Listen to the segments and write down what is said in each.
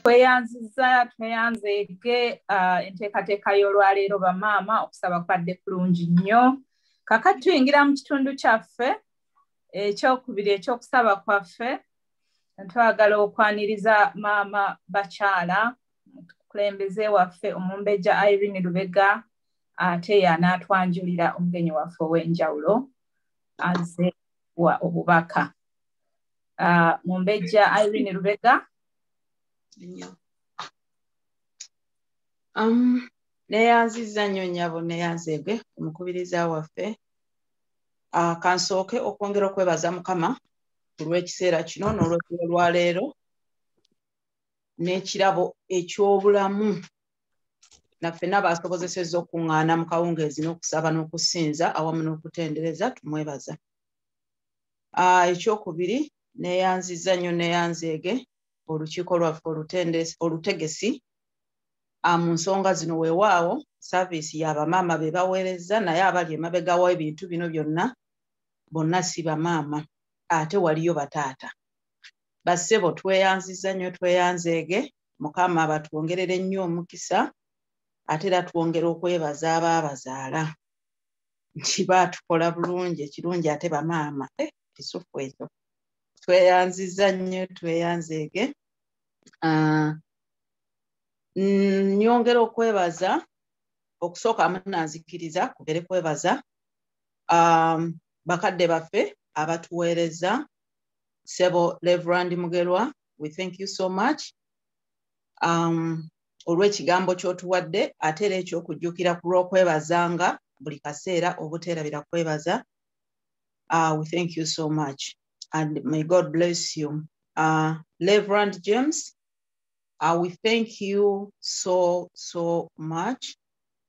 tweyanziza tweyanzeege uh, enteekateeka y'olwaleero bamaama okusaba kwadde kulungi nnyo kakati tuyingira mu kitundu kyaffe ekyokubiri ekyokusaba kwaffe twagala okwaniriza maama bakyala mukulembeze waffe omumbejja irene lubega ate yanaatwanjulira omugenyi waffe ow'enjawulo aze wa obubaka ah, mumbejja irene lubega um, neyanziza nnyo nyabo neyanzege omukubiriza waffe ah, kansooke okwongera okwebaza mukama ku lw'ekiseera kino n'olwekiro lwa leero n'ekirabo eky'obulamu naffe nabaasobozeseza okuŋŋaana mu kawungeezi n'okusaba n'okusinza awamu n'okutendereza tumwebaza ah, ekyokubiri neyanziza nnyo neyanzeege olukiiko lwaffe olutegesi ah, mu nsonga zino weewaawo saaviisi yabamaama be baweereza naye abali emabega wa ebintu bino byonna bonna si bamaama ate waliyo bataata bassebo tweyanziza nnyo tweyanzeege mukama batwongerere nnyo omukisa ate era twongera okwebaza abaabazaala nti baatukola bulungi ekirungi ate bamaama eh, kisufu ekyo tweyanziza nnyo tweyanzeege ah, nyongera okwebaza okusooka munanzikiriza kubere kwebaza um, bakadde baffe abatuweereza sebo leverand mugerwa we thank you so much um, olw'ekigambo ky'otuwadde ate era eky'okujjukira ku lw'okwebazanga buli kaseera obuteerabira kwebaza uh, we thank you so much and may god bless you uh, leverand james uh, we thank you so so much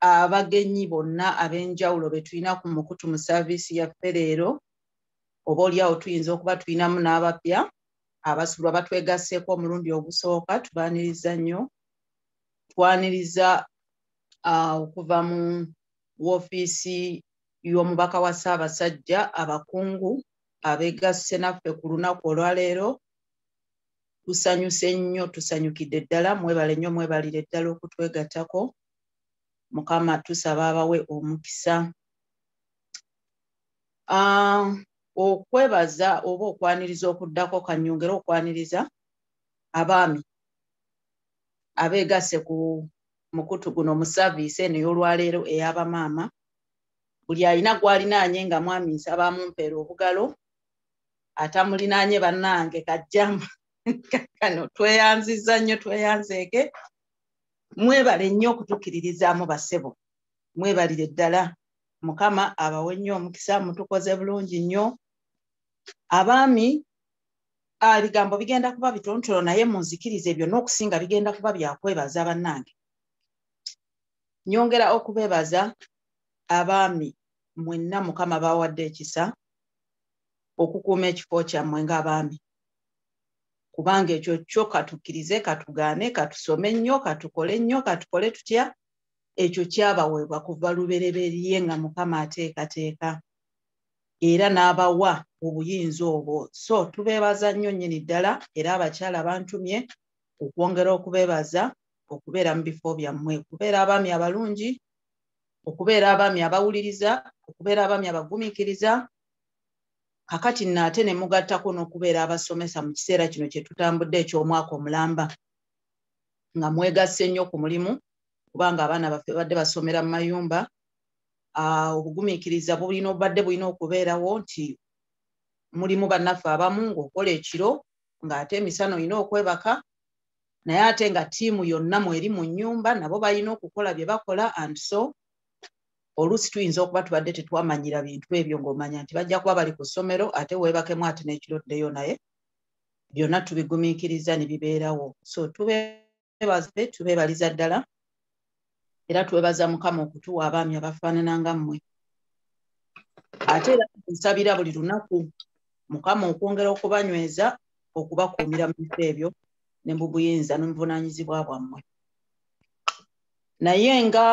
abagenyi bonna ab'enjawulo be tulina ku mukutu mu saaviisi yaffe leero oba oliawo tuyinza okuba tulinamu n'abapya abasulwa batwegasseeko omulundi ogusooka tubaniriza nnyo twaniriza uh, okuva mu woofiisi y'omubaka wa ssaabasajja abakungu abeegasse naffe ku lunaku olwaleero tusanyuse nnyo tusanyukidde ddala mwebale nnyo mwebalire ddala okutwegattako mukama tusaba abawe omukisa ah, okwebaza oba okwaniriza okuddako kanyongere okwaniriza abaami abeegasse ku mukutu guno mu saaviisi eno ey'olwaleero ey'abamaama buli alina gwalinaanye nga mwami nsaba amumpeera obugalo atamulinaanye bannange kajjama kano tweyanziza nnyo tweyanzeeke mwebale nnyo okutukiririzaamu basebo mwebalire ddala mukama abawe nnyo omukisa mutukoze bulungi nnyo abaami bigambo bigenda kuba bitontolo naye munzikiriza ebyo n'okusinga bigenda kuba byakwebaza bannange nyongera okubebaza abaami mwenna mukama bawadde ekisa okukuuma ekifo kyammwe ng'abaami kubanga ekyo kyo katukkirize katugaane katusome nnyo katukole nnyo katukole tutya ekyo kyabaweebwa kuva lubereberye nga mukama ateekateeka era n'abawa obuyinza obwo so tubeebaza nnyo nnyini ddala era abakyala bantumye okwongera okubeebaza okubeera mu bifo byammwe okubeera abaami abalungi okubeera abaami abawuliriza okubeera abaami abagumiikiriza kakati nno ate ne mugattako n'okubeera abasomesa mu kiseera kino kye tutambudde eky'omwaka omulamba nga mwegasse nnyo ku mulimu kubanga abaana baffe badde basomera mu mayumba ah, obugumiikiriza bulina obubadde bulina okubeerawo nti mulimu bannaffe abamu ng'okola ekiro ng'ate emisana olina okwebaka naye ate nga tiimu yonna mweri mu nnyumba nabo balina okukola bye bakola and so oluusi tuyinza okuba tubadde tetwamanyira bintu ebyo ng'omanya nti bajja kuba bali ku ssomero ate weebakemu ate n'ekiro ddeyo naye byonna tubigumiikiriza ne bibeerawo so tubebaze tubeebaliza ddala era twebaza mukama okutuwa abaami abafaanana nga mmwe ate era nsabira buli lunaku mukama okwongera okubanyweza okubakuumira mu bifo ebyo ne mu buyinza n'omuvunaanyizibwa bwammwe naye nga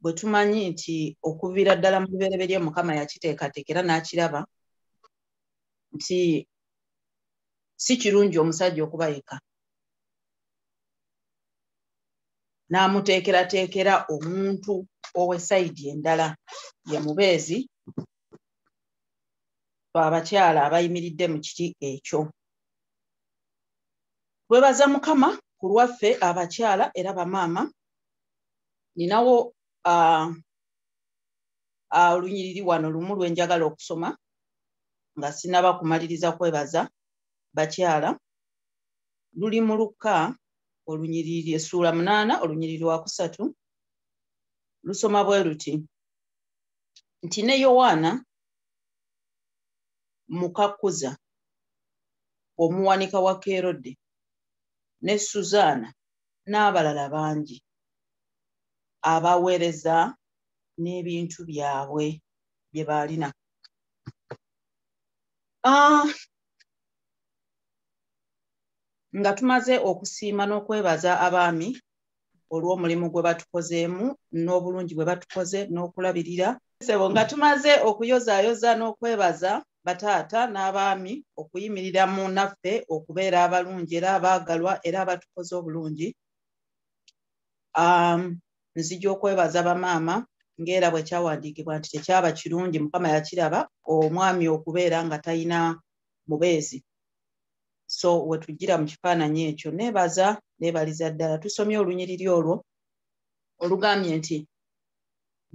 bwe tumanyi nti okuviira ddala mu lubereberye mukama yakiteekateeka era n'akiraba nti si kirungi omusajja okuba yeka n'amuteekerateekera omuntu owesayidi endala ye mubeezi abakyala abayimiridde mu kiti ekyo twebaza mukama ku lwaffe abakyala era bamaama ninawo ah, ah, olunyiriri wano lumu lwenjagala okusoma nga sinaba kumaliriza kwebaza bakyala luli mu lukka olunyiriri essuula munaana olunyiriri wakusatu lusoma bwe luti nti ne yowaana mukakkuza omuwanika wa kerode ne suzaana n'abalala bangi abaweereza n'ebintu byabwe bye baalina ah, nga tumaze okusiima n'okwebaza abaami olw'omulimu gwe batukozeemu n'obulungi bwe batukoze n'okulabirira sebo nga tumaze okuyozaayoza n'okwebaza bataata n'abaami okuyimirira mu naffe okubeera abalungi era abaagalwa era abatukoze obulungi um, nzija okwebaza bamaama ngaera bwe kyawandiikibwa nti tekyaba kirungi mukama yakiraba omwami okubeera nga talina mubeezi so wetujjira mu kifaananyi ekyo neebaza neebaliza ddala tusomye olunyiriri olwo olugambye nti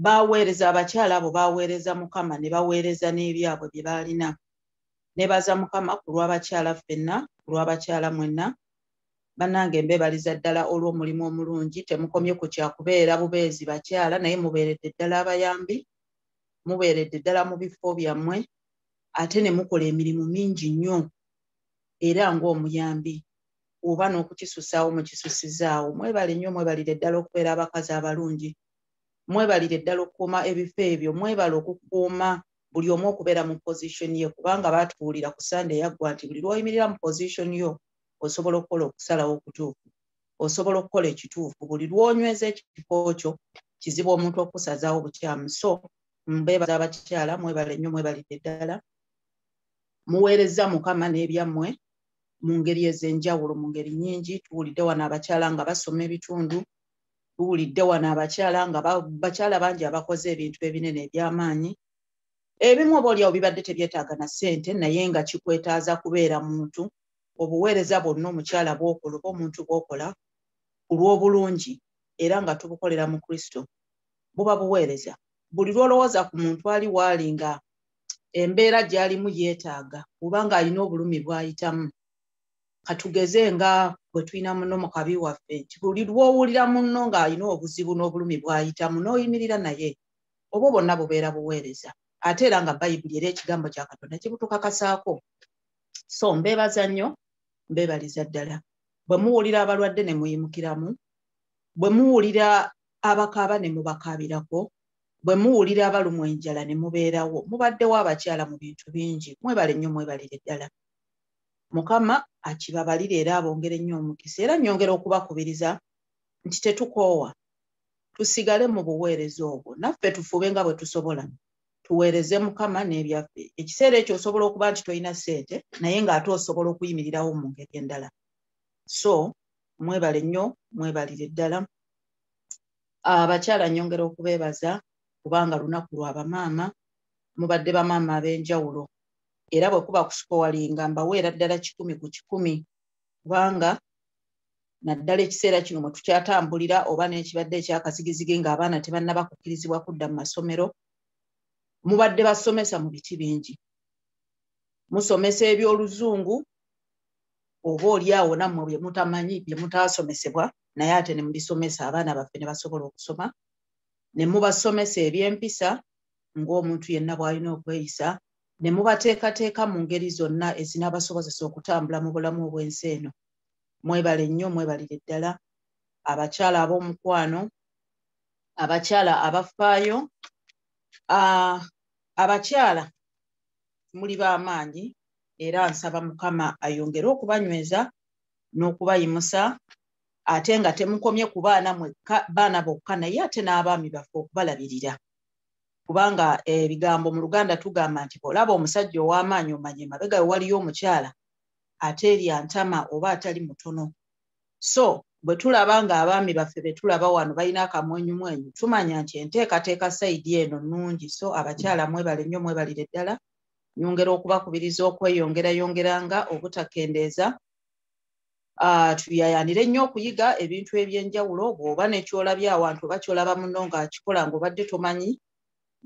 baaweereza abakyala abo baaweereza mukama ne baweereza n'ebyabwe bye baalina neebaza mukama ku lw'abakyala ffenna ku lw'abakyala mwenna bannange mbeebaliza ddala olw'omulimu omulungi temukomye ku kyakubeera bubeezi bakyala naye mubeeredde ddala abayambi mubeeredde ddala mu bifo byammwe ate ne mukola emirimu mingi nnyo era ng'omuyambi oba n'okukisusaawo mukisusizaawo mwebale nnyo mwebalire ddala okubeera abakazi abalungi mwebalire ddala okukuuma ebifo ebyo mwebale okukuuma buli omu okubeera mu position ye kubanga baatubuulira ku sande yaggwa nti buli lwoyimirira mu position yo osobola okukola okusalawo okutuufu osobola okukola ekituufu buli lwonyweza ekifo kyo kizibu omuntu okusazaawo bukyamu so mbebaza abakyala mwebale nnyo mwebalidde ddala muweerezza mukama n'ebyammwe mu ngeri ez'enjawulo mu ngeri nyingi tuwulidde wano abakyala nga basoma ebitundu tuwulidde wano abakyala nga bakyala bangi abakoze ebintu ebinene eby'amaanyi ebimu oba olyawo bibadde tebyetaaga na ssente naye nga kikwetaaza kubeera muntu obuweereza bwonna omukyala bwokola oba omuntu bwokola ku lw'obulungi era nga tubukolera mu kristo buba buweereza buli lwolowooza ku muntu ali waali nga embeera gyalimu yeetaaga oba nga alina obulumi bwayitamu katugeze nga bwe tulina muno mu kabi waffe nti buli lwowulira munno ng'alina obuzibu n'obulumi bwayitamu n'oyimirira naye obwo bonna bubeera buweereza ate era nga bayibuli era ekigambo kya katonda kibutukakasaako so mbeebaza nnyo mbeebaliza ddala bwe muwulira abalwadde ne muyimukiramu bwe muwulira abakaaba ne mubakaabirako bwe muwulira abalumwa enjala ne mubeerawo mubaddewo abakyala mu bintu bingi mwebale nnyo mwebalire ddala mukama akibabalire era abongere nnyo omukisa era nnyongera okubakubiriza nti tetukoowa tusigale mu buweereza obwo naffe tufube nga bwe tusobola tuweereze mukama n'ebyaffe ekiseera ekyo osobola okuba nti tolina ssente naye ng'ate osobola okuyimirirawo mu ngeri endala so mwebale nnyo mwebalire ddala abakyala ah, nyongera okubeebaza kubanga lunaku lwa bamaama mubadde bamaama ab'enjawulo era bwe kuba kusikowalinga mbaweera ddala kikumi ku kikumi kubanga naddala ekiseera kino mwe tukyatambulira oba n'ekibadde ekyakazigizigi ng'abaana tebannaba kukkirizibwa kudda mu masomero mubadde basomesa mu biti bingi musomesa eby'oluzungu oba oli awo nammwe bye mutamanyi bye mutaasomesebwa naye ate ne mubisomesa abaana baffe ne basobola okusoma ne mubasomesa eby'empisa ng'omuntu yenna bw'alina okweyisa ne mubateekateeka mu ngeri zonna ezinaabasobozesa okutambula mu bulamu obw'ensi eno mwebale nnyo mwebalire ddala abakyala ab'omukwano abakyala abafaayo abakyala muli b'amaanyi era nsaba mukama ayongere okubanyweza n'okubayimusa ate nga temukomye ku baana mwekka baana bokka naye ate n'abaami baffe okubalabirira kubanga ebigambo mu luganda tugamba nti olaba omusajja ow'amaanyi omanye mabega we waliyo omukyala ate erya ntama oba atali mutono so bwe tulaba ng'abaami baffe be tulaba wano balina akamwenyumwenyu tumanya nti enteekateeka sayidi eno nnungi so abakyala mwebale nnyo mwebalire ddala nyongera okubakubiriza okweyongerayongeranga obutakendeeza ah, tuyayanire nnyo okuyiga ebintu ebyenjawulo bw'oba nekyolabye awantu oba kyolaba muno ng'akikola ng'obadde tomanyi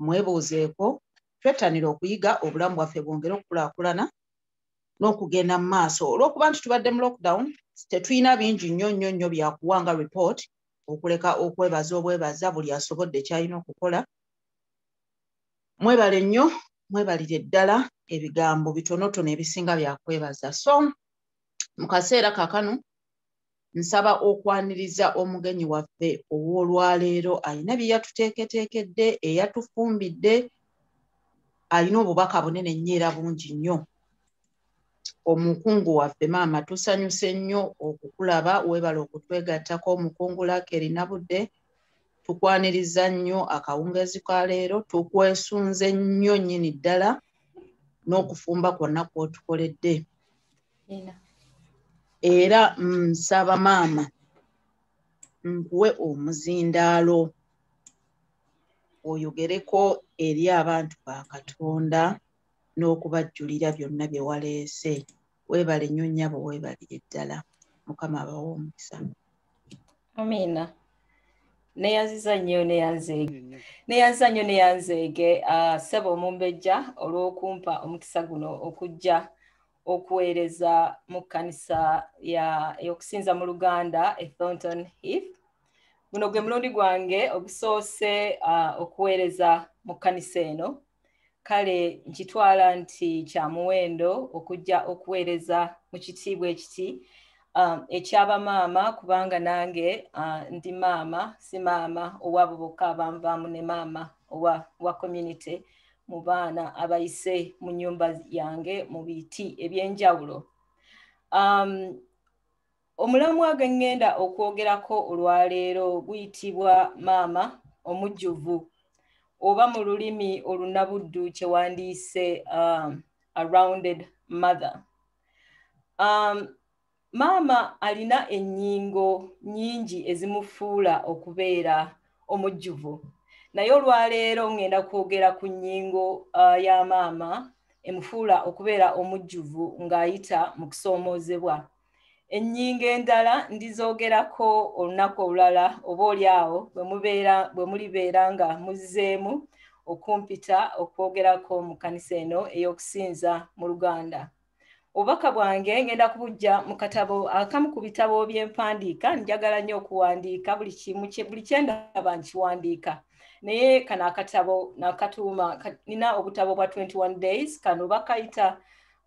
mwebuuzeeko twettanire okuyiga obulamu bwaffe bwongere okukulaakulana n'okugenda mu maaso olw'okuba nti tubadde mu lockdown tetulina bingi nnyo nnyo nnyo byakuwa nga report okuleka okwebaza obwebaza buli asobodde kyalina okukola mwebale nnyo mwebalire ddala ebigambo bitonotono ebisinga byakwebaza so mu kaseera kakano nsaba okwaniriza omugenyi waffe ow'olwaleero alina bye yatuteeketeekedde eyatufumbidde alina obubaka bunene nnyo era bungi nnyo omukungu waffe maama tusanyuse nnyo okukulaba webala okutwegattako omukungu lakeri nabudde tukwaniriza nnyo akawungezi ka leero tukwesunze nnyo nnyini ddala n'okufumba kwonna kwotukoledde era nsaba mm, maama nkuwe omuzindaalo oyogereko eri abantu ba katonda n'okubajjulira byonna bye waleese weebale nnyo nnyabo weebalire ddala mukama abawa omukisa amiina neyaziza nnyo neyanzeege neyanziza nnyo neyanzeege ah, ssebo omumbejja olw'okumpa omukisa guno okujja okuweereza mu kkanisa y'okusinza mu luganda e thonton heath guno gwe mulundi gwange ogusoose ah, okuweereza mu kkanisa eno kale nkitwala nti kya muwendo okujja okuweereza mu kitiibwa ekiti um, ekyaba maama kubanga nange uh, ndi maama si maama owabo bokka abanvaamu ne maama owa, owa community mu baana abayise mu nyumba yange mu biti ebyenjawulo um, Omulamwa gwe ŋŋenda okwogerako olwaleero guyitibwa maama omujjuvu oba mu lulimi olunabuddu kye wandiyise um, a rounded mother. Um, maama alina ennyingo nnyingi ezimufuula okubeera omujjuvu naye olwaleero ŋŋenda kwogera ku nnyingo uh, ya maama emufuula okubeera omujjuvu ng'ayita mu kusoomoozebwa. ennyingo endala ndizoogerako olunaku olulala oba oli awo bwe mulibeera nga muzzeemu okumpita okwogerako mu kkanisa eno ey'okusinza mu luganda obubaka bwange ngenda kubujja mu katabo akamu ku bitabo by'empandiika njagala nnyo okuwandiika buli kimu buli kyendaba nkiwandiika naye kano akatabo nakatuuma nina obutabo bwa 21 days kano bakayita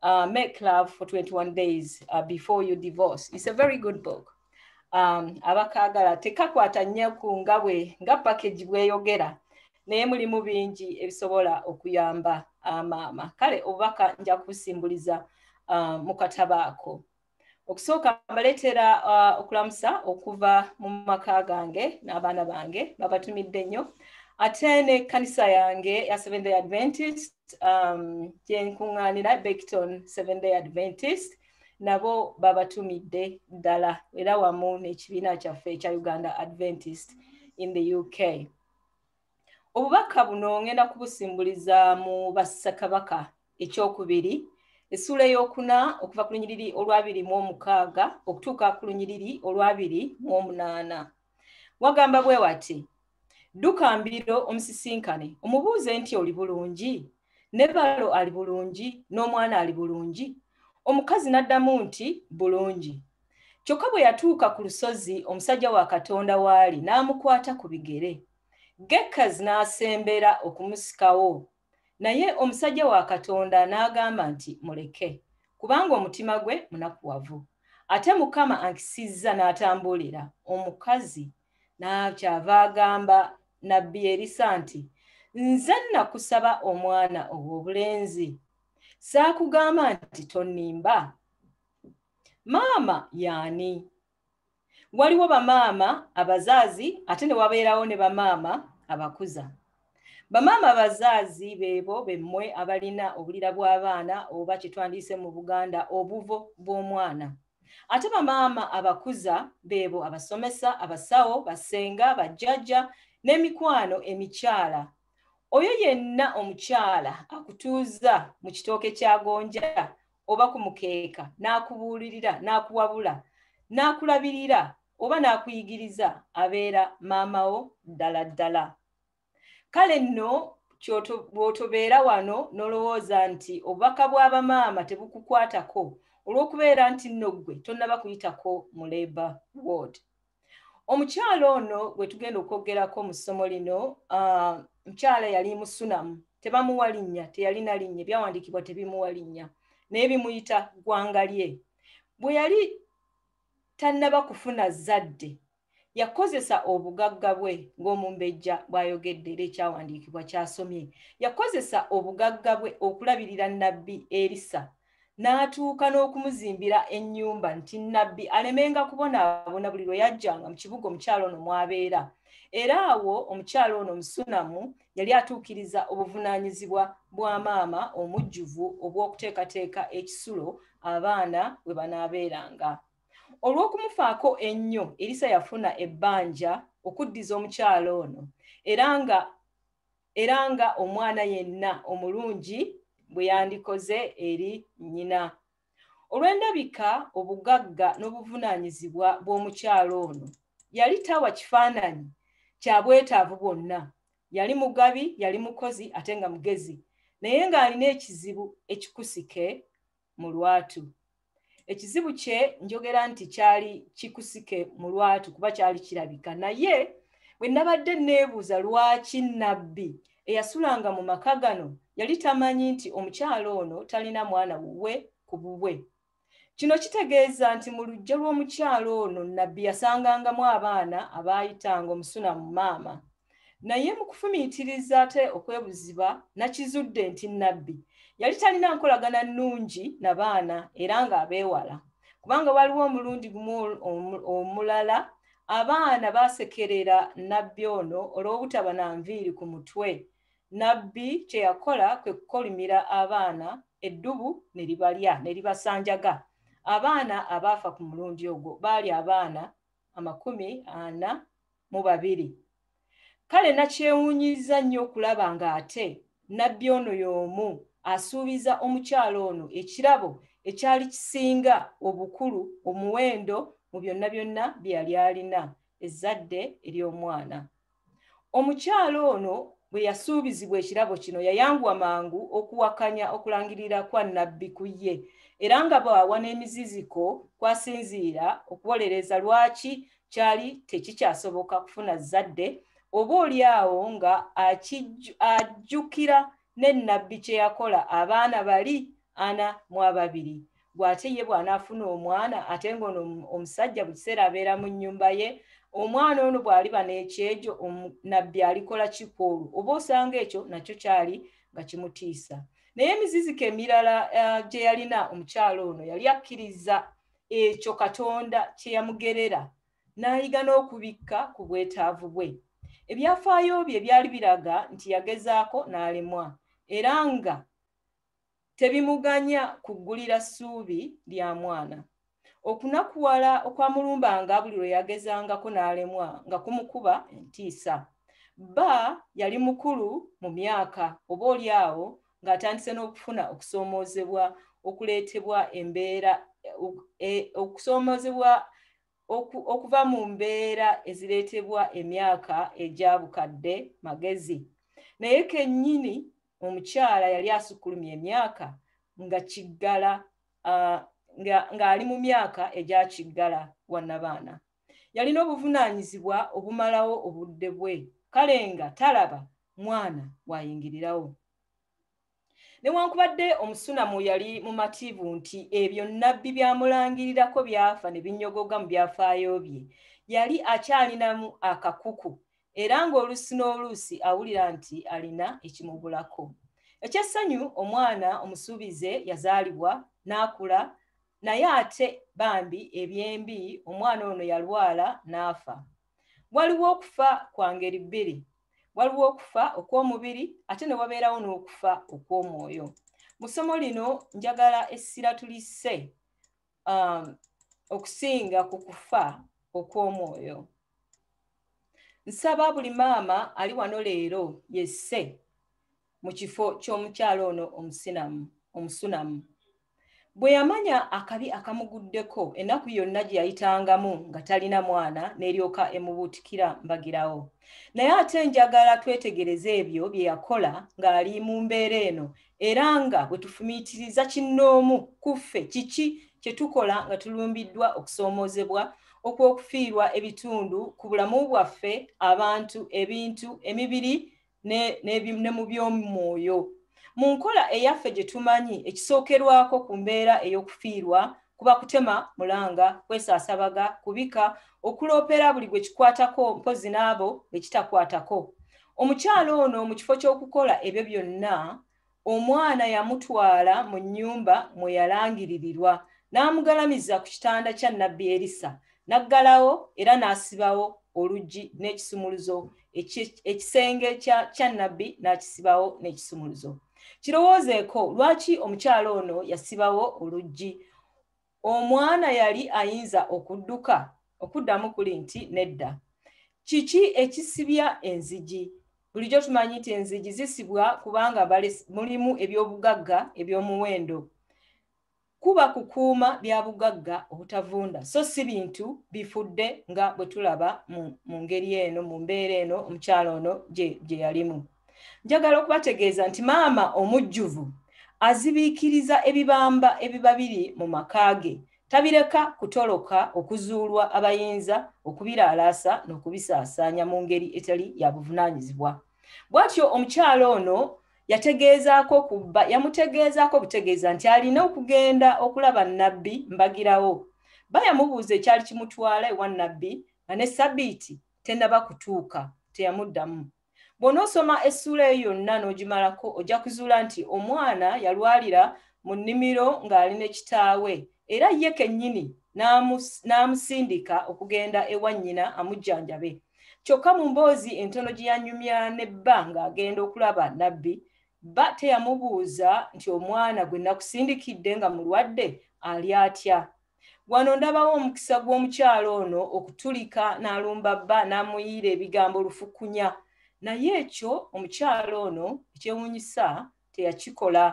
uh, Make Love for 21 Days uh, Before You Divorce. It's a very good book. Um, abakaagala tekakwata nnyo ku nga bwe nga package bweyogera naye mulimu bingi ebisobola okuyamba uh, maama kale obubaka nja kubusimbuliza uh, mu katabaako okusooka mbaleetera uh, okulamusa okuva mu maka gange n'abaana bange babatumidde nnyo ate ne kanisa yange ya seven day adventist um, gyenkuŋŋaanira bekton seven day adventist nabo babatumidde ddala era wamu n'ekibiina kyaffe ekya uganda adventist in the uk obubaka buno ngenda kubusimbuliza mu bassakabaka ekyokubiri essuula eyokuna okuva ku lunyiriri olwabiri mu omukaaga okutuuka ku lunyiriri olwabiri mu omunaana wagamba bwe wati dduka mbiro omusisinkane omubuuze nti oli bulungi ne balo ali bulungi n'omwana ali bulungi omukazi n'addamu nti bulungi kyokka bwe yatuuka ku lusozi omusajja wa katonda waali n'amukwata ku bigere gekazi n'asembera okumusikawo naye omusajja wa katonda n'agamba nti muleke kubanga omutima gwe munakuwavu ate mukama ankisizza n'atambuulira omukazi n'akyava agamba nabbi erisa nti nze nakusaba omwana ow'obulenzi saakugamba nti tonimba maama yaani waliwo bamaama abazaazi ate ne wabeerawo ne bamaama abakuza bamaama abazaazi beebo bemmwe abalina obulira bw'abaana oba kyetwandiise mu buganda obuvo bw'omwana ate bamaama abakuza beebo abasomesa abasawo basenga bajjajja n'emikwano emikyala oyo yenna omukyala akutuuza mu kitooke kya gonja oba ku mukeeka n'akubuulirira n'akuwabula n'akulabirira oba n'akuyigiriza abeera maama wo ddala ddala kale nno bw'otobeera wano n'olowooza nti obubaka bw'abamaama tebukukwatako olw'okubeera nti nno ggwe tonnaba kuyitako mu labour ward omukyala ono gwe tugenda okwogerako mu ssomo lino uh, mukyala yali musunamu tebamuwa linnya teyalina linnya ebyawandiikibwa tebimuwa linnya naye bimuyita ggwanga lye bwe yali tannaba kufuna zadde yakozesa obugagga bwe ng'omumbejja bw'ayogedde era ekyawandiikibwa kyasomye yakozesa obugagga bwe okulabirira nabbi erisa n'atuuka n'okumuzimbira ennyumba nti nabbi alemenga kubonaabona buli lwe yajjanga mu kibuga omukyalo ono mwabeera era awo omukyalo ono omusunamu yali atuukiriza obuvunaanyizibwa bwa maama omujjuvu obw'okuteekateeka ekisulo abaana we banaabeeranga olw'okumufaako ennyo erisa yafuna ebbanja okuddiza omukyalo ono era nga era nga omwana yenna omulungi bwe yandikoze eri nnyina olw'endabika obugagga n'obuvunaanyizibwa bw'omukyalo ono yali tawa kifaananyi kya bwetaavu bwonna yali mugabi yali mukozi ate nga mugezi naye ng'alina ekizibu ekikusike mu lwatu ekizibu kye njogera nti kyali kikusike mu lwatu kuba kyali kirabika naye bwe nabadde neebuuza lwaki nabbi eyasulanga mu maka gano yali tamanyi nti omukyalo ono talina mwana wuwe ku bubwe kino kitegeeza nti mu lujja lw'omukyalo ono nabbi yasangangamu abaana abaayitanga omusuna mu maama naye mu kufumiitiriza ate okwebuziba nakizudde nti nabbi yali talina nkolagana nnungi na baana era ng'abeewala kubanga waliwo omulundi gumu omulala abaana baasekerera nabbi ono olw'obutaba na nviiri ku mutwe nabbi kye yakola kwe kukolimira abaana eddubu ne libalya ne libasanjaga abaana abaafa ku mulundi ogwo baali abaana amakumi ana mu babiri kale nakyewuunyiza nnyo okulaba ng'ate nabbi ono y'omu asuubiza omukyalo ono ekirabo ekyali kisinga obukulu omuwendo mu byonna byonna bye yali alina ezzadde ery'omwana omukyala ono bwe yasuubizibwa ekirabo kino yayanguwa mangu okuwakanya okulangirira kwa nabbi ku ye era nga bw'awa n'emiziziko kwasinziira okuwolereza lwaki kyali tekikyasoboka kufuna zzadde oba oli awo nga ajjukira ne nabbi kye yakola abaana bali ana mu ababiri gwe ate ye bw'anaafuna omwana ate ng'ono omusajja buli kiseera abeera mu nnyumba ye omwana ono bw'aliba n'ekyejo nabbi alikola kikoolu oba osanga ekyo nakyo kyali nga kimutiisa naye emiziziko emirala eh, gye yalina omukyalo ono yali akkiriza ekyo katonda kye yamugerera n'ayiga n'okubikka ku bwetaavu bwe ebyafaayo bye byali biraga nti yagezaako n'alemwa era nga tebimuganya kuggulira ssuubi lya mwana okunakuwala okwamulumbanga buli lwe yagezangako n'alemwa nga kumukuba entiisa bba yali mukulu mu myaka oba oli awo ng'atandise n'okufuna okusoomoozebwa okuleetebwa embeera e, okusoomoozebwa okuva mu mbeera ezireetebwa emyaka egyabukadde magezi naye kennyini omukyala yali asukkulumya emyaka nga kiggala ng'ali mu myaka egya kiggala wannabaana yalina obuvunaanyizibwa obumalawo obudde bwe kale nga talaba mwana waayingirirawo newankubadde omusunamu yali mumativu nti ebyo nabbi byamulangirirako byafa ne binyogoga mu byafaayo bye yali akyalinamu akakuku era ng'oluusi n'oluusi awulira nti alina ekimubulako. Eky'essanyu omwana omusuubize yazaalibwa n'akula naye ate bambi ebyembi omwana ono yalwala n'afa. Waliwo okufa kwa ngeri bbiri. Waliwo okufa okw'omubiri ate ne wabeerawo n'okufa okw'omwoyo. Mu ssomo lino njagala essira tulisse um, okusinga ku kufa okw'omwoyo nsaba buli maama ali wano leero yesse mu kifo ky'omukyalo ono omusinamu omusunamu bwe yamanya akabi akamuguddeko ennaku yonna gye yayitangamu nga talina mwana n'eryoka emubuutikira mbagirawo naye ate njagala twetegereze ebyo bye yakola ng'ali mu mbeera eno era nga bwe tufumiitiriza kinnoomu ku ffe kiki kye tukola nga tulumbiddwa okusoomoozebwa okw'okufiirwa ebitundu ku bulamu bwaffe abantu ebintu emibiri ne mu by'omwoyo mu nkola eyaffe gye tumanyi ekisookerwako ku mbeera ey'okufiirwa kuba kutema mulanga kwesaasabaga kubika okuloopera buli gwe kikwatako mpozi n'abo be kitakwatako omukyala ono mu kifo ky'okukola ebyo byonna omwana yamutwala mu nnyumba mwe yalangiririrwa n'amugalamiza ku kitanda kya nabbi erisa n'aggalawo era n'asibawo oluggi n'ekisumuluzo ekisenge kya nabbi n'akisibawo n'ekisumuluzo e kirowoozeeko lwaki omukyala ono yasibawo oluggi omwana yali ayinza okudduka okuddamu kuli nti nedda kiki ekisibya enzigi bulijjo tumanyi nti enzigi zisibwa kubanga mulimu ebyobugagga ebyomuwendo kuba kukuuma bya bugagga obutavunda so si bintu bifudde nga bwe tulaba mu ngeri eno mu mbeera eno omukyalo ono gye yalimu njagala okubategeeza nti maama omujjuvu azibiikiriza ebibamba ebiba biri mu maka ge tabireka kutoloka okuzuulwa abayinza okubiraalaasa n'okubisaasaanya mu ngeri etali ya buvunaanyizibwa bwatyo omukyala ono yategeezaako ku bba yamutegeezaako obutegeeza nti alina okugenda okulaba nnabbi mbagirawo bba yamubuuza ekyali kimutwala ewa nnabbi nga ne sabiiti tennaba kutuuka teyamuddamu bw'onoosoma essuula eyo yonna n'ogimalako ojja kuzuula nti omwana yalwalira mu nnimiro ng'ali ne kitaawe era ye kennyini n'amusindika okugenda ewa nnyina amujjanjabe kyokka mu mboozi entono gye yanyumya ne bba ng'agenda okulaba nabbi bba teyamubuuza nti omwana gwe nakusindikidde nga mulwadde ali atya wano ndabawo omukisa gw'omukyalo ono okutulika n'alumba bba n'amuyiira ebigambo lufukunya naye ekyo omukyalo ono ekyewuunyisa teyakikola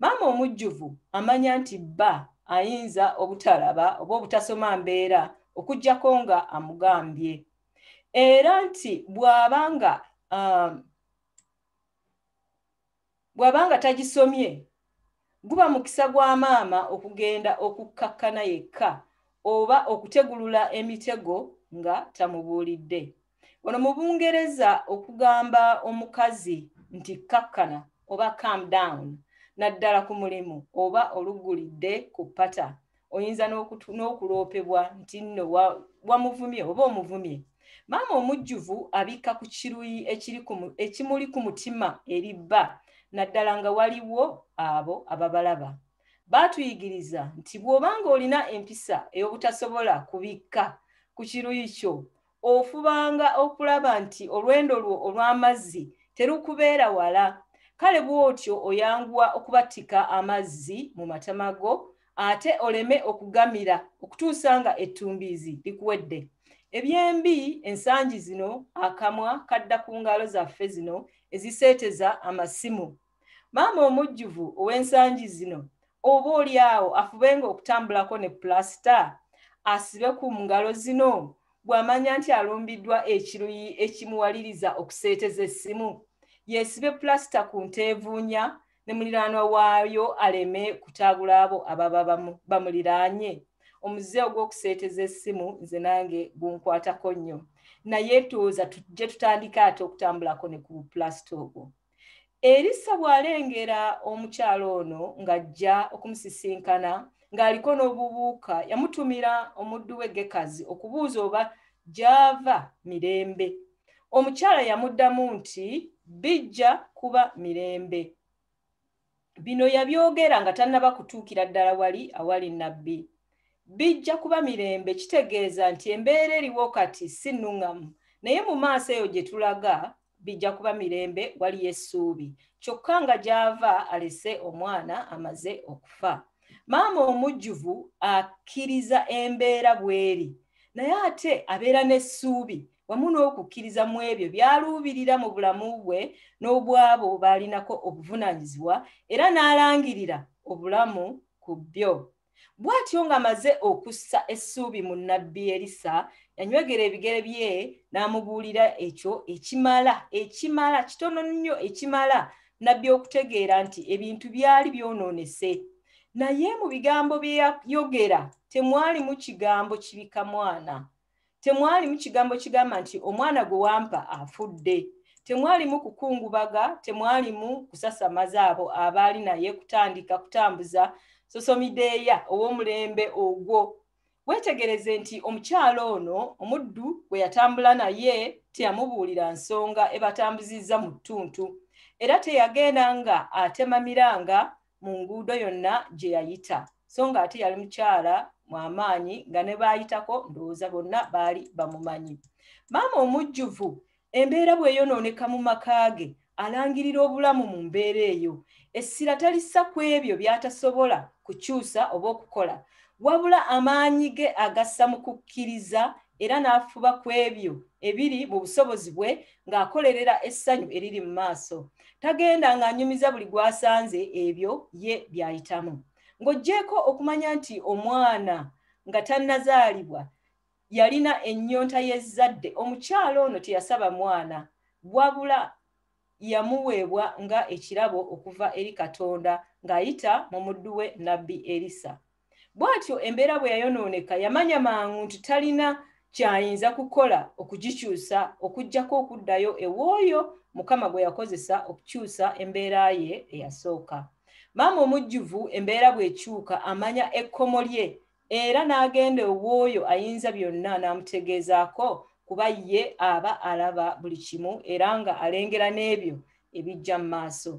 maama omujjuvu amanya nti bba ayinza obutalaba oba obutasoma mbeera okuggyako nga amugambye era nti bw'aba nga um, bw'aba nga tagisomye guba mukisa gwa maama okugenda okukkakkana yekka oba okutegulula emitego nga tamubuulidde ono mu bungereza okugamba omukazi nti kakkana oba calm down naddala ku mulimu oba oluggulidde ku pata oyinza n'okuloopebwa nti nno wamuvumye oba omuvumye maama omujjuvu abikka ku kiruyi ekimuli ku mutima eri bba naddala nga waliwo abo ababalaba baatuyigiriza nti bw'obanga olina empisa ey'obutasobola kubikka ku kiruyi kyo ofubanga okulaba nti olwendo lwo olw'amazzi terukubeera wala kale bw'otyo oyanguwa okubatika amazzi mu matama go ate oleme okugamira okutuusa nga ettumbiizi likuwedde ebyembi ensangi zino akamwa kadda ku ngalo zaffe zino eziseeteza amasimu maama omujjuvu ow'ensangi zino oba oli awo afubenga okutambulako ne pulasita asibe ku ngalo zino bw'amanya nti alumbiddwa ekiruyi ekimuwaliriza okuseeteza essimu yeesibe pulasita ku nteevuunya ne muliraanwa waayo aleme kutaabula abo ababa bamuliraanye omuze ogw'okuseeteza essimu nze nange gunkwatako nnyo naye tuwoza tujje tutandika ate okutambulako ne ku pulasita ogwo erisa bw'alengera omukyala ono ng'ajja okumusisinkana ng'aliko n'obubuuka yamutumira omuddu we gekazi okubuuza oba gy'ava mirembe omukyala yamuddamu nti bijja kuba mirembe bino yabyogera nga tannaba kutuukira ddala wali awali nabbi bijja kuba mirembe kitegeeza nti embeera eriwo kati si nuŋŋamu naye mu maaso eyo gye tulaga bijja kuba mirembe waliyo essuubi kyokka nga gy'ava alese omwana amaze okufa maama omujjuvu akkiriza embeera bw'eri naye ate abeera n'essuubi wamu n'okukkiriza mu ebyo byaluubirira mu bulamu bwe n'obwabo baalinako obuvunaanyizibwa era n'alangirira obulamu ku byo bw'atyo ng'amaze okussa essuubi mu nnabbi erisa yanywegera ebigere bye n'amubuulira ekyo ekimala ekimala kitono nnyo ekimala nabbi okutegeera nti ebintu byali byonoonese naye mu bigambo bye yayogera temwalimu kigambo kibika mwana temwalimu kigambo kigamba nti omwana gwe wampa afudde temwalimu kukungubaga temwalimu kusasamaza abo abaali naye kutandika kutambuza sosomideeya ow'omulembe ogwo weetegereze nti omukyalo ono omuddu gwe yatambula naye teyamubuulira nsonga ebatambuzizza mu ttuntu era teyagenda nga atema miranga mu nguudo yonna gye yayita so nga ate yali mukyala mwamaanyi nga ne baayitako ndowooza bonna baali bamumanyi maama omujjuvu embeera bweyonooneka mu maka ge alangirira obulamu mu mbeera eyo essira talissa ku ebyo by'atasobola kukyusa oba okukola wabula amaanyi ge agassa mu kukkiriza era n'afuba ku ebyo ebiri mu busobozi bwe ng'akolerera essanyu eriri mu maaso tagenda ng'anyumiza buli gwasanze ebyo ye byayitamu ng'oggyeeko okumanya nti omwana nga tannazaalibwa yalina ennyonta y'ezzadde omukyala ono teyasaba mwana wabula yamuweebwa nga ekirabo okuva eri katonda ng'ayita mu muddu we nabbi erisa bw'atyo embeera bwe yayonooneka yamanya mangu nti talina kyayinza kukola okugikyusa okuggyako okuddayo ew'oyo mukama gwe yakozesa okukyusa embeera ye eyasooka maama omujjuvu embeera bw'ekyuka amanya ekkomo lye era n'agenda ow'oyo ayinza byonna n'amutegeezaako kuba ye aba alaba buli kimu era nga alengera n'ebyo ebijja mu maaso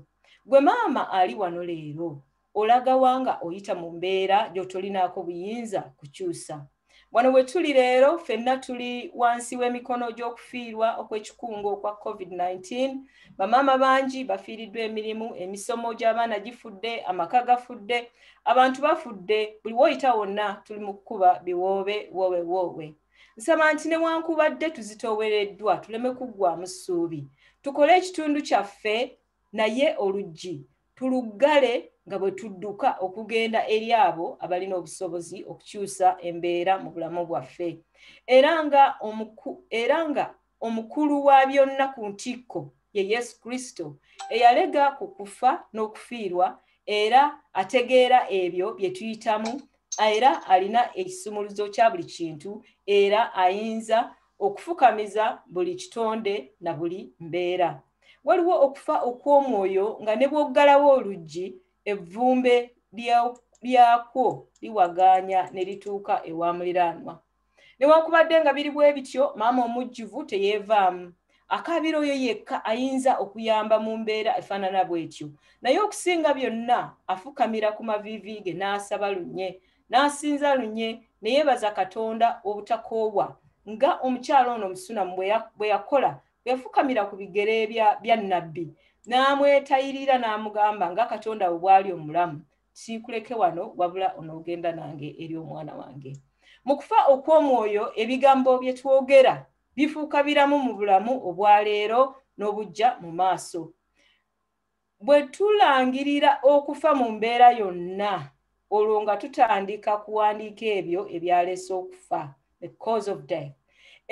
gwe maama ali wano leero olagawa nga oyita mu mbeera gy'otolinaako buyinza kukyusa wano we tuli leero fenna tuli wansi w'emikono gy'okufiirwa okw'ekikungo okwa covid-19 bamaama bangi bafiiriddwa emirimu emisomo gy'abaana gifudde amaka gafudde abantu bafudde buli woyita wonna tuli mu kukuba biwoobe woowe woowe nsaba nti newankubadde tuzitoowereddwa tuleme kuggwamu ssuubi tukole ekitundu kyaffe naye oluggi tuluggale nga bwe tudduka okugenda eri abo abalina obusobozi okukyusa embeera mu bulamu bwaffe era nga era nga omukulu wa byonna ku ntikko ye yesu kristo eyalega ku kufa n'okufiirwa era ategeera ebyo bye tuyitamu era alina ekisumuluzo kya buli kintu era ayinza okufukamiza buli kitonde na buli mbeera waliwo okufa okw'omwoyo nga ne bw'oggalawo oluggi evvumbe lyakwo liwagaanya ne lituuka ewa muliraanwa newankubadde nga biri bwe bityo maama omujjuvu teyeevaamu akaabira oyo yekka ayinza okuyamba mu mbeera efaanana bw'etyo naye okusinga byonna afukamira ku maviivi ge n'asaba lunye n'asinza lunye ne yeebaza katonda obutakoowa nga omukyala ono omusunamu bwe yakola yafukamira ku bigere bya nabbi n'amwetayirira n'amugamba nga katonda we bwali omulamu siikuleke wano wabula onoogenda nange eri omwana wange mu kufa okw'omwoyo ebigambo bye twogera bifuuka biramu mu bulamu obwaleero n'obujja mu maaso bwe tulangirira okufa mu mbeera yonna olwo nga tutandika kuwandiika ebyo ebyaleese okufa the cause of death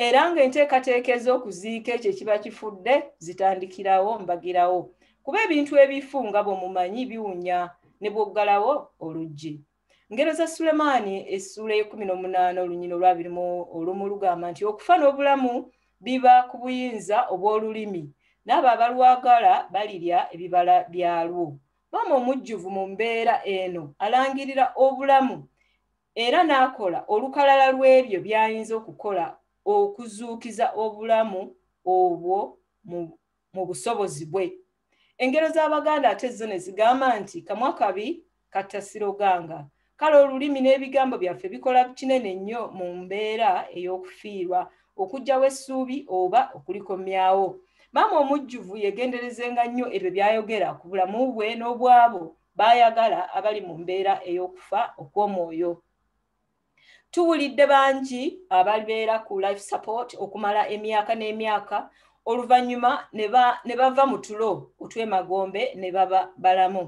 era ng'enteekateeka ez'okuziika ekyo ekiba kifudde zitandikirawo mbagirawo kuba ebintu ebifu nga bwe mumanyi biwunya ne bwoggalawo oluggi ngero za sulemaani essuula eyekumi n'omunaana olunyina olwabiri mu olumu lugamba nti okufa n'obulamu biba ku buyinza obw'olulimi n'abo abalwagala balirya ebibala byalwo maama omujjuvu mu mbeera eno alangirira obulamu era n'akola olukalala lw'ebyo by'ayinza okukola okuzuukiza obulamu obwo mu busobozi bwe engero z'abaganda ate zo ne zigamba nti kamwa kabi kattasiroganga kale olulimi n'ebigambo byaffe bikola kinene nnyo mu mbeera ey'okufiirwa okugyawo essuubi oba okulikomyawo maama omujjuvu yegenderezenga nnyo ebyo byayogera ku bulamu bwe n'obwabo baayagala abali mu mbeera ey'okufa okw'omwoyo tuwulidde bangi ababeera ku life support okumala emyaka n'emyaka oluvannyuma ne bava mu tulo otw'emagombe ne baba balamu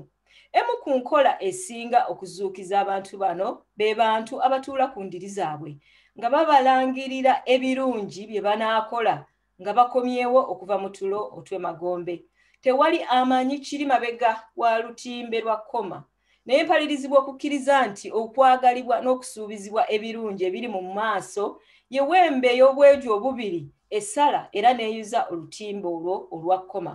emu ku nkola esinga okuzuukiza abantu bano be bantu abatuula ku ndiri zaabwe nga babalangirira ebirungi bye banaakola nga bakomyewo okuva mu tulo otw'emagombe tewali amanyi kiri mabega wa lutimbe lwa koma naye mpalirizibwa okukkiriza nti okwagalibwa n'okusuubizibwa ebirungi ebiri mu maaso ye wembe ey'obweju obubiri esala era n'eyuza olutimbe olwo olwa koma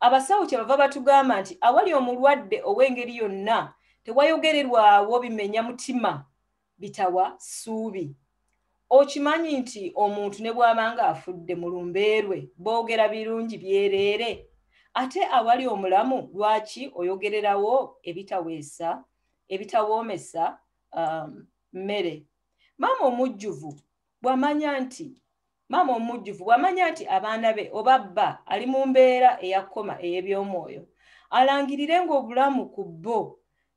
abasawo kyebava batugamba nti awali omulwadde ow'engeri yonna tewayogererwawo bimenya mutima bitawa ssuubi okimanyi nti omuntu ne bw'abanga afudde mu lumbeerwe boogera birungi byereere ate awali omulamu lwaki oyogererawo ebitaweesa ebitawoomesa um, mmere um, maama omujjuvu bw'amanya nti maama omujjuvu bw'amanya nti abaana be oba bba ali mu mbeera eyakoma ey'eby'omwoyo alangirire ng'obulamu ku bbo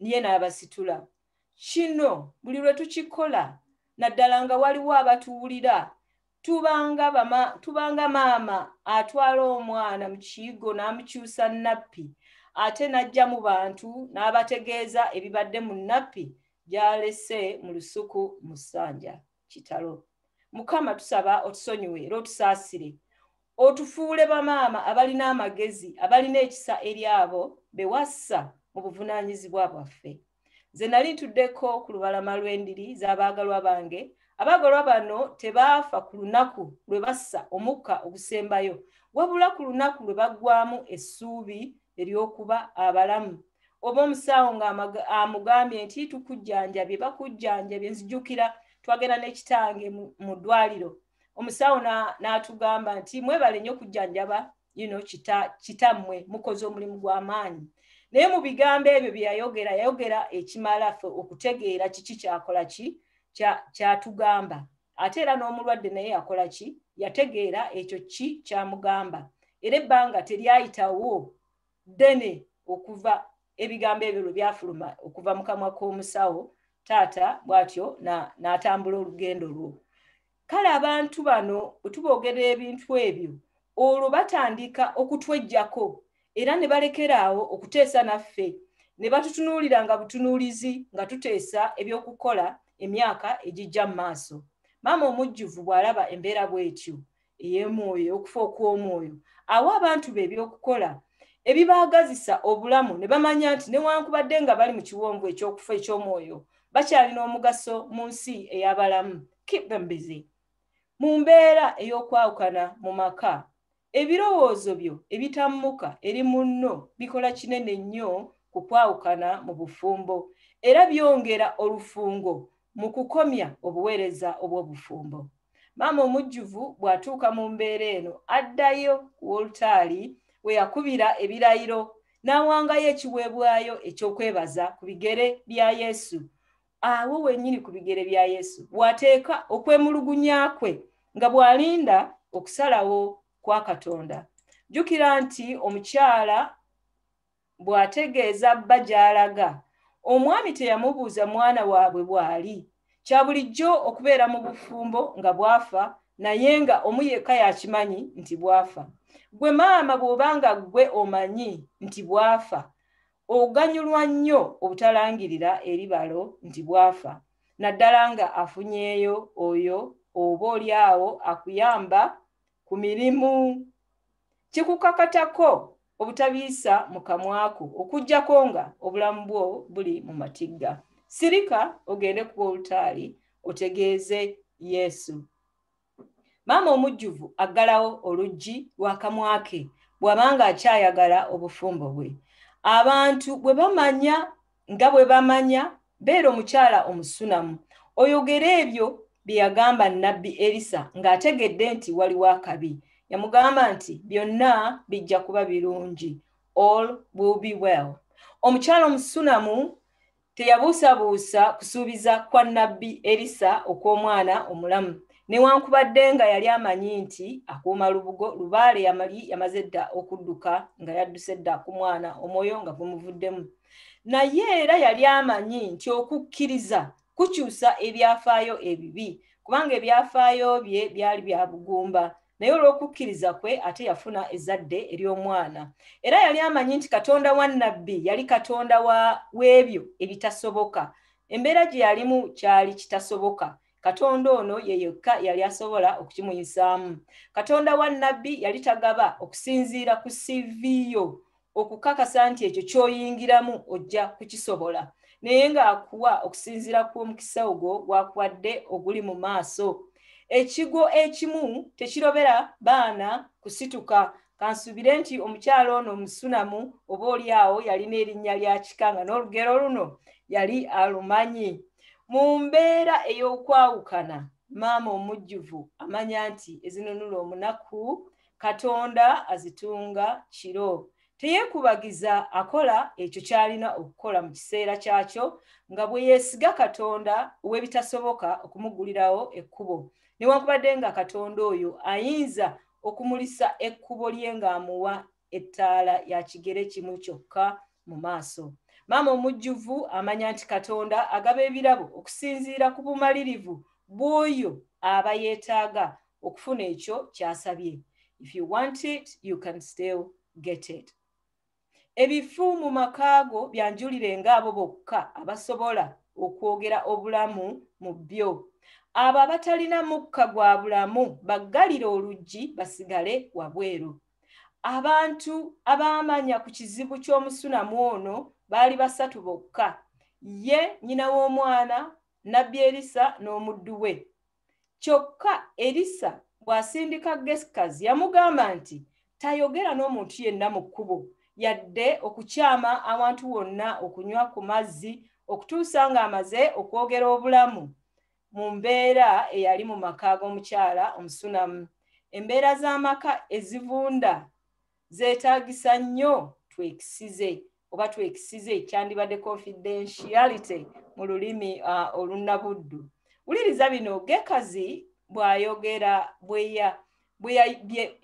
ye n'abasitula kino buli lwe tukikola naddala nga waliwo abatuwulira tubanga bama tubanga maama atwala omwana mu kiyigo n'amukyusa nappi ate n'ajja mu bantu n'abategeeza ebibadde mu nappi gy'alese mu lusuku mu ssanja kitalo mukama tusaba otusonyiwe era otusaasire otufuule bamaama abalina amagezi abalina ekisa eri abo bewassa mu buvunaanyizibwa bwaffe nze nali ntuddeko ku lubalama lw'endiri z'abaagalwa bange abaagalwa bano tebaafa ku lunaku lwe bassa omukka ogusembayo wabula ku lunaku lwe baggwamu essuubi ery'okuba abalamu oba omusawo nga amugambye nti tukujjanjabye bakujjanjabye nzijukira twagenda nekitange mu ddwaliro omusawo n'atugamba nti mwebale nnyo okujjanjaba yino kitammwe mukoze omulimu gw'amaanyi naye mu bigambo ebyo bye yayogera yayogera ekimala ffe okutegeera kiki kyakola ki kyatugamba ate era n'omulwadde naye yakola ki yategeera ekyo ki kyamugamba era ebbanga teryayitawo ddene okuva ebigambo ebyo lwe byafuluma okuva mu kamwa k'omusawo taata bw'atyo n'atambula olugendo lwo kale abantu bano otuboogera ebintu ebyo olwo batandika okutwejjako era ne balekeraawo okuteesa naffe ne batutunuulira nga butunuulizi nga tuteesa ebyokukola emyaka egijja mu maaso maama omujjuvu bw'alaba embeera bw'etyo ey'emwoyo ey'okufa okw'omwoyo awa abantu be ebyokukola ebibaagazisa obulamu ne bamanya nti newankubadde nga bali mu kiwonvu eky'okufa eky'omwoyo bakyalina omugaso mu nsi ey'abalamu keep them busy mu mbeera ey'okwawukana mu maka ebirowoozo byo ebitammuka eri munno bikola kinene nnyo ku kwawukana mu bufumbo era byongera olufungo mu kukomya obuweereza obw'obufumbo. Maama omujjuvu bw'atuuka mu mbeera eno, addayo ku wolutaali we yakubira ebirayiro n'awangayo ekiweebwayo eky'okwebaza ku bigere bya Yesu. Awo wennyini ku bigere bya Yesu w'ateeka okwemulugunya kwe nga bw'alinda okusalawo kwa Katonda. Jjukira nti omukyala bw'ategeeza bba gy'alaga omwami teyamubuuza mwana waabwe bw'ali kya bulijjo okubeera mu bufumbo nga bwafa naye nga omu yekka yakimanyi nti bwafa gwe maama bw'oba nga ggwe omanyi nti bwafa oganyulwa nnyo obutalangirira eri balo nti bwafa naddala nga afunyeeyo oyo oba oli awo akuyamba ku mirimu kikukakatako obutabiisa mu kamwako okujjako nga obulamu bwo buli mu matigga sirika ogende ku olutaali otegeeze yesu maama omujjuvu aggalawo oluggi lwakamwake bw'abanga akyayagala obufumbo bwe abantu bwe bamanya nga bwe bamanya beera omukyala omusunamu oyogere ebyo bye yagamba nnabbi erisa ng'ategedde nti waliwo akabi yamugamba nti byonna bijja kuba birungi all will be well omukyala omusunamu teyabuusabuusa kusuubiza kwa nnabbi erisa okw'omwana omulamu newankubadde nga yali amanyi nti akuuma lubugo lubaale yamali yamaze dda okudduka nga yadduse dda ku mwana omwoyo nga gumuvuddemu naye era yali amanyi nti okukkiriza kukyusa ebyafaayo ebibi kubanga ebyafaayo bye byali bya bugumba naye olw'okukkiriza kwe ate yafuna ezzadde ery'omwana era yali amanyi nti katonda wa nabbi yali katonda w'ebyo ebitasoboka embeera gye yalimu kyali kitasoboka katonda ono ye yekka yali asobola okukimuyisaamu katonda wa nabbi yali tagaba okusinziira ku siviyo okukakasa nti ekyo kyoyingiramu ojja kukisobola naye ng'akuwa okusinziira ku omukisa ogwo gwakuwadde oguli mu maaso ekigo ekimu tekirobera baana kusituka kansuubire nti omukyalo ono omusunamu oba oli awo yalina erinnya lya kika nga n'olugero luno yali alumanyi mu mbeera ey'okwawukana maama omujjuvu amanya nti ezinunula omunaku katonda azitunga kiro teyekubagiza akola ekyo kyalina okukola mu kiseera kyakyo nga bwe yeesiga katonda ow'ebitasoboka okumugulirawo ekkubo newankubadde nga katonda oyo ayinza okumulisa ekkubo lye ng'amuwa ettaala ya kigere kimu kyokka mu maaso maama omujjuvu amanya nti katonda agaba ebirabo okusinziira ku bumalirivu bw'oyo aba yeetaaga okufuna ekyo kyasabye if you want it you can still get it ebifu mu maka go byanjulire ngaabo bokka abasobola okwogera obulamu mu byo abo abatalina mukka gwa bulamu baggalire oluggi basigale wabweru abantu abaamanya ku kizibu ky'omusunamu ono baali basatu bokka ye nyina w'omwana nabbi erisa n'omuddu we kyokka erisa bw'asindika gesikazi yamugamba nti tayogera n'omuntu yenna mu kkubo yadde okukyama awantu wonna okunywa ku mazzi okutuusa ng'amaze okwogera obulamu mu mbeera eyali mu maka g'omukyala omusunamu embeera z'amaka ezivunda zeetaagisa nnyo twekisize oba twekisize kyandibadde confidentiality mu lulimi uh, olunnabuddu wuliriza bino gekazi bw'ayogera bweya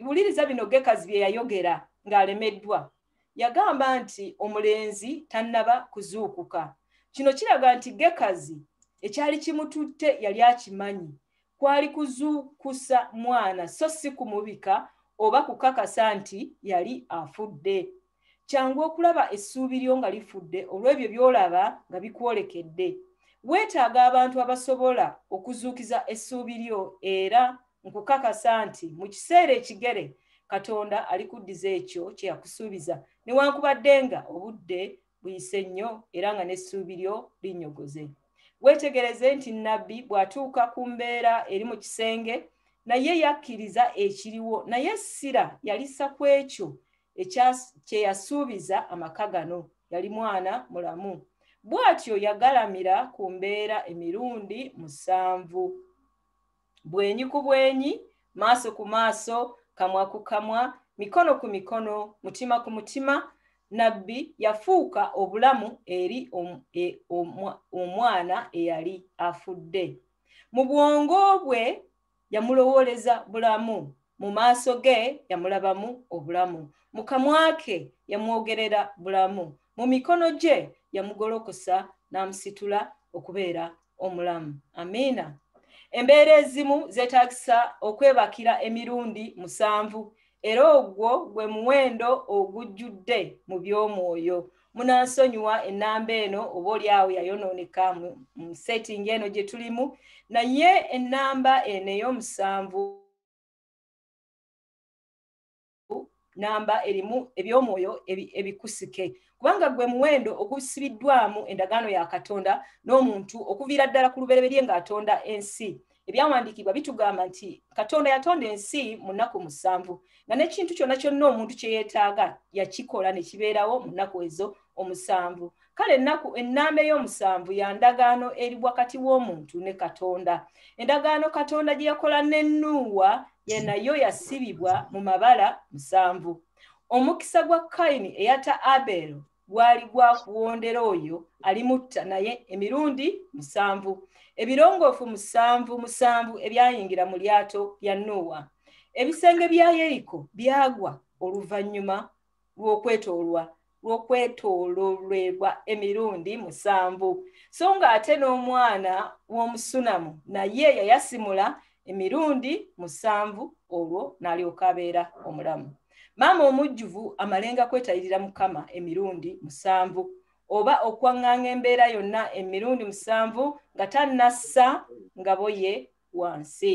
wuliriza bino gekazi bye yayogera ng'alemeddwa yagamba nti omulenzi tannaba kuzuukuka kino kiraga nti gekazi ekyali kimututte yali akimanyi kwali kuzuukusa mwana so si kumubika oba kukakasa nti yali afudde kyangu okulaba essuubi lyo nga lifudde olw'ebyo by'olaba nga bikwolekedde weetaaga abantu abasobola okuzuukiza essuubi lyo era nkukakasa nti mu kiseera ekigere katonda alikuddiza ekyo kye yakusuubiza newankubadde nga obudde buyise nnyo era nga n'essuubi lyo linyogoze weetegereze nti nabbi bw'atuuka ku mbeera eri mu kisenge naye yakkiriza ekiriwo naye essira yalisa ku ekyo kye yasuubiza amaka gano yali mwana mulamu bw'atyo yagalamira ku mbeera emirundi musanvu bwenyi ku bwenyi maaso ku maaso kamwa ku kamwa mikono ku mikono mutima ku mutima nabbi yafuuka obulamu eri e, omwana eyali afudde mu bwongo bwe yamulowooleza bulamu mu maaso ge yamulabamu obulamu mu kamwa ke yamwogerera bulamu mu mikono gye yamugolokosa n'amusitula okubeera omulamu amiina embeera ezimu zeetagisa okwebakira emirundi musanvu era ogwo gwe muwendo ogujjudde mu by'omwoyo munansonyiwa ennamba eno oba olyawo yayonooneka mu setting eno gye tulimu naye ennamba eno ey'omusanvu namba erimu eby'omwoyo ebikusike kubanga gwe muwendo ogusibiddwamu endagaano ya katonda n'omuntu okuviira ddala ku lubereberye ng'atonda ensi ebyawandiikibwa bitugamba nti katonda yatonda ensi mu nnaku musanvu nga n'ekintu kyonna kyonna omuntu kye yeetaaga yakikola ne kibeerawo mu nnaku ezo omusanvu kale ennaku ennaama ey'omusanvu ya ndagaano eri wakati w'omuntu ne katonda endagaano katonda gye yakola ne nuuwa ye nayo yasibibwa mu mabala musanvu omukisa gwa kayini eyata abeero gwali gwa kuwondera oyo alimutta naye emirundi musanvu ebirongoofu musanvu musanvu ebyayingira mu lyato lya nuuwa ebisenge bya yeriko byagwa oluvannyuma lw'okwetoolwa lw'okwetoololebwa emirundi musanvu so ng'ate n'omwana w'omusunamu naye yayasimula emirundi musanvu olwo n'alyoka abeera omulamu maama omujjuvu amalenga kwetayirira mukama emirundi musanvu oba okwaŋŋanga embeera yonna emirundi musanvu nga tannassa ngaboye wansi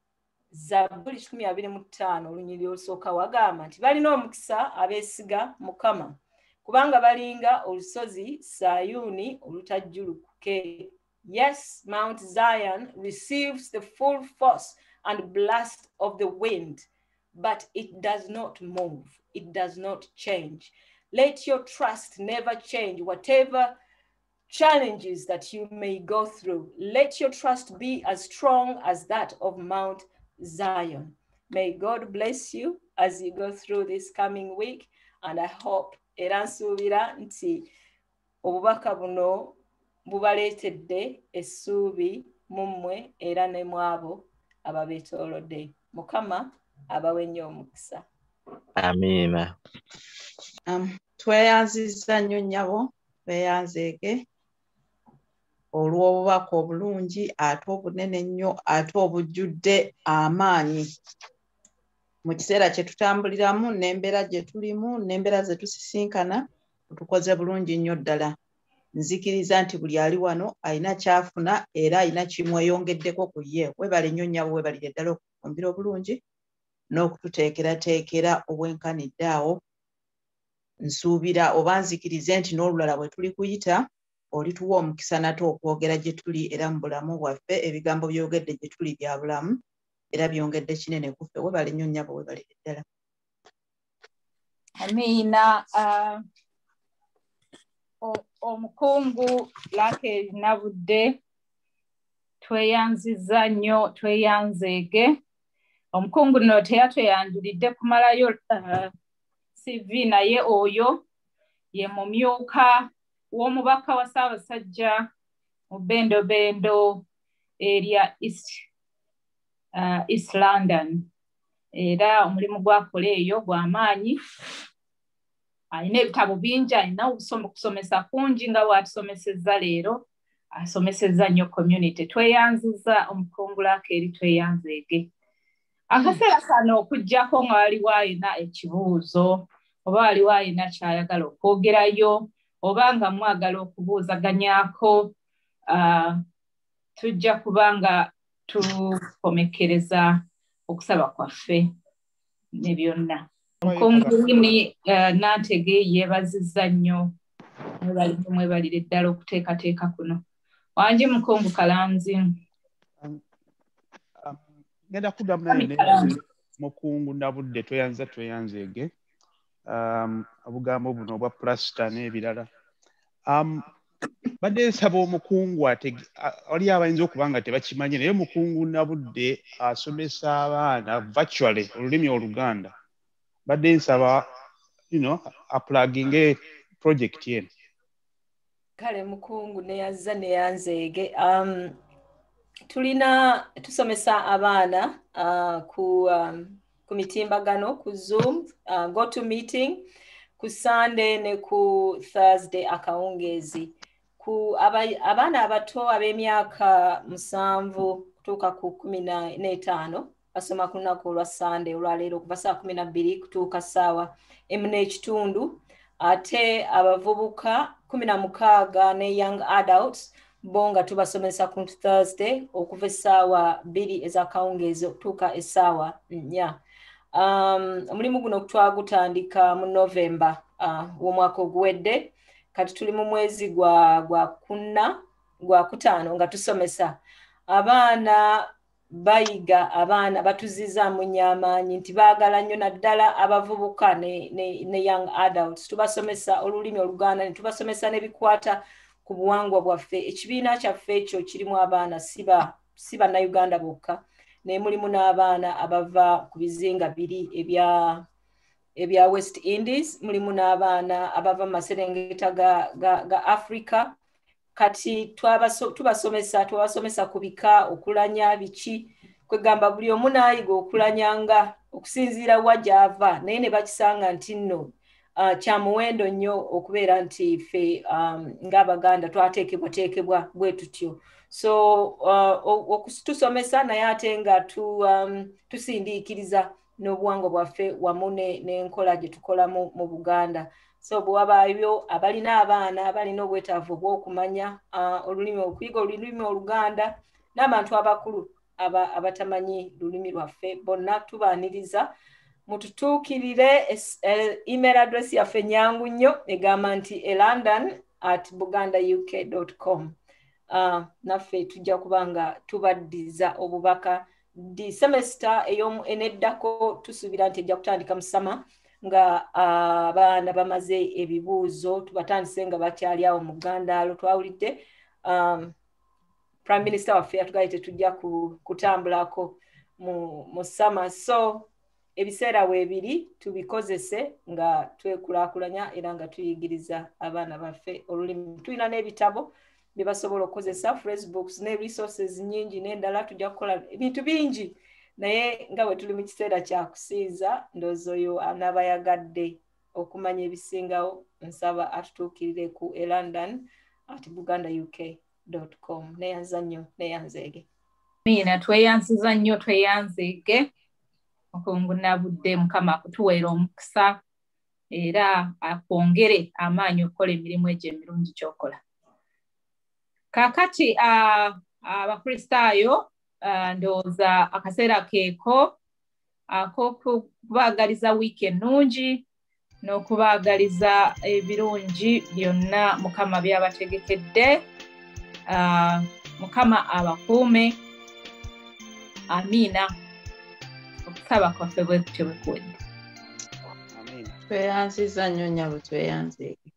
zabbuli kikumi abiri mu ttaano olunyiri olusooka wagamba nti balina omukisa abeesiga mukama kubanga balinga olusozi sayuuni olutajjulukuke yes mount zion receives the full force and blast of the wind but it does not move it does not change let your trust never change whatever challenges that you may go through. Let your trust be as strong as that of Mount Zion. May God bless you as you go through this coming week. And I hope era nsuubira nti obubaka buno bubaleetedde essuubi mu mmwe era ne mu abo ababeetoolodde mukama abawe nnyo omukisa amiina um, tweyanzizza nnyo nnyabo beyanzeege olw'obubaka obulungi ate obunene ennyo ate obujjudde amaanyi mu kiseera kye tutambuliramu n'embeera gye tulimu n'embeera ze tusisinkana tukoze bulungi nnyo ddala nzikiriza nti buli ali wano alina kyafuna era alina kimweyongeddeko ku ye webale nnyo nnyabo webalire ddala okufumbira obulungi n'okututeekerateekera obwenkanidde awo nsuubira oba nzikirize nti n'olulala bwe tuli kuyita olituwa omukisa nate okwogera gye tuli era mu bulamu bwaffe ebigambo byogedde gye tuli bya bulamu era byongedde kinene kuffe webale nnyo nnyabo webalire ddala amiina uh, omukungu lake nabudde tweyanziza nnyo tweyanzeege omukungu no teyatweyanjulidde kumalayo uh, cv naye oyo ye mumyuka w'omubaka wa ssaabasajja mu bendobendo erya east, uh, east london era omulimu gwakola eyo gwamaanyi alina ebitabo bingi alina okusomesa kungi nga bwatusomesezza leero asomesezza nnyo community tweyanziza omukungulaako eri tweyanzeege akaseera kano okuggyako nga waliwo alina ekibuuzo oba waliwo alina kyayagala okwogerayo oba nga mwagala okubuuzaganyako ah, tujja kuba nga tukomekereza okusaba kwaffe ne byonna nkunguuni eh, nantege yeebazizza nnyo mwebalimu mwebalire ddala okuteekateeka kuno wangi mukungu kalanzi um, um, ngenda kuddamu naye mukungu nabudde tweyanza tweyanzeege um, obugambo buno obwa pulasita n'ebirala um, badde nsaba omukungu wali abayinza okuba nga tebakimanye naye omukungu nabudde asomesa abaana virtually olulimi oluganda badde nsaba you know, aplaginge project eno kale mukungu neyazza neyanzeege um, tulina tusomesa abaana uh, ku um, ku mitimbagano ku zoom uh, go to meeting ku sunday ne ku thursday akawungeezi ku abaana abato ab'emyaka musanvu kutuuka ku kumi n'etaano basoma ku lunaku olwa sunday olwaleero okuva saa kumi nabbiri kutuuka saawa emu n'ekitundu ate abavubuka kumi na mukaaga ne young adults bo nga tubasomesa ku thursday okuva essaawa bbiri ezakawungeezi okutuuka essaawa nnya um, omulimu guno twagutandika mu novemba uh, w'omwaka oguwedde kati tuli mu mwezi gwa gwa kunna gwa kutaano nga tusomesa abaana bayiga abaana batuzizaamu nnyo amaanyi nti baagala nnyo naddala abavubuka ne, ne, ne young adults tubasomesa olulimi oluganda ne tubasomesa n'ebikwata ku buwangwa bwaffe ekibiina kyaffe ekyo kirimu abaana siba si bannayuganda bokka naye mulimu n'abaana abava ku bizinga biri ebya ebya west indies mulimu n'abaana abava mu maserengeta ga, ga, ga africa kati tubasomesa twabasomesa ku bika okulanya biki kwegamba buli omu naayiga okulanya nga okusinziira wa gyava naye ne bakisanga nti nno uh, kya muwendo nnyo okubeera nti ffe um, ng'abaganda twateekebwateekebwa bwe tutyo so uh, okutusomesa naye ate nga um, tusindiikiriza n'obuwangwa bwaffe wamu n'enkola gye tukolamu mu buganda so bwewabaayo abalina abaana balina obwetaavu obwokumanya olulimi okuyiga olulimi oluganda n'abantu abakulu abatamanyi lulimi lwaffe bonna tubaaniriza mututuukirire e, email address yaffe nyangu nnyo egamba nti e london at buganda uk com naffe tujja kuba nga tubaddiza obubaka di semester eyomu eneddako tusuubira nti ejja kutandika mu sama nga abaana uh, bamaze ebibuuzo tubatandise nga bakyali awo mu gandaalo twawulidde um, prime minister waffe yatugaye tetujja kutambulako mu, mu sama so ebiseera weebiri tubikozese nga twekulakulanya era nga tuyigiriza abaana baffe olulimi tulina n'ebitabo bye basobola okukozesa facebooks ne resources nyingi n'endala tujja kukola ebintu bingi naye nga bwe tuli mu kiseera kya kusinza ndoozi oyo anaaba yagadde okumanya ebisingawo nsaba atutuukirire ku elondon at buganda uk com neyanza nnyo neyanzeege miina tweyanziza nnyo tweyanzeege okungunabudde mukama akutuweera omukisa era akwongere amaanyi okukola emirimu egyo emirungi kyokola kakati abakristaayo ndowooza akaseera keeko akokubaagaliza wiiki ennungi n'okubaagaliza ebirungi byonna mukama byabategekedde ah, mukama abakuume amiina okusaba kwaffe bwekutyo bwekuwedde tweyanziza nnyo nyabo tweyanzeege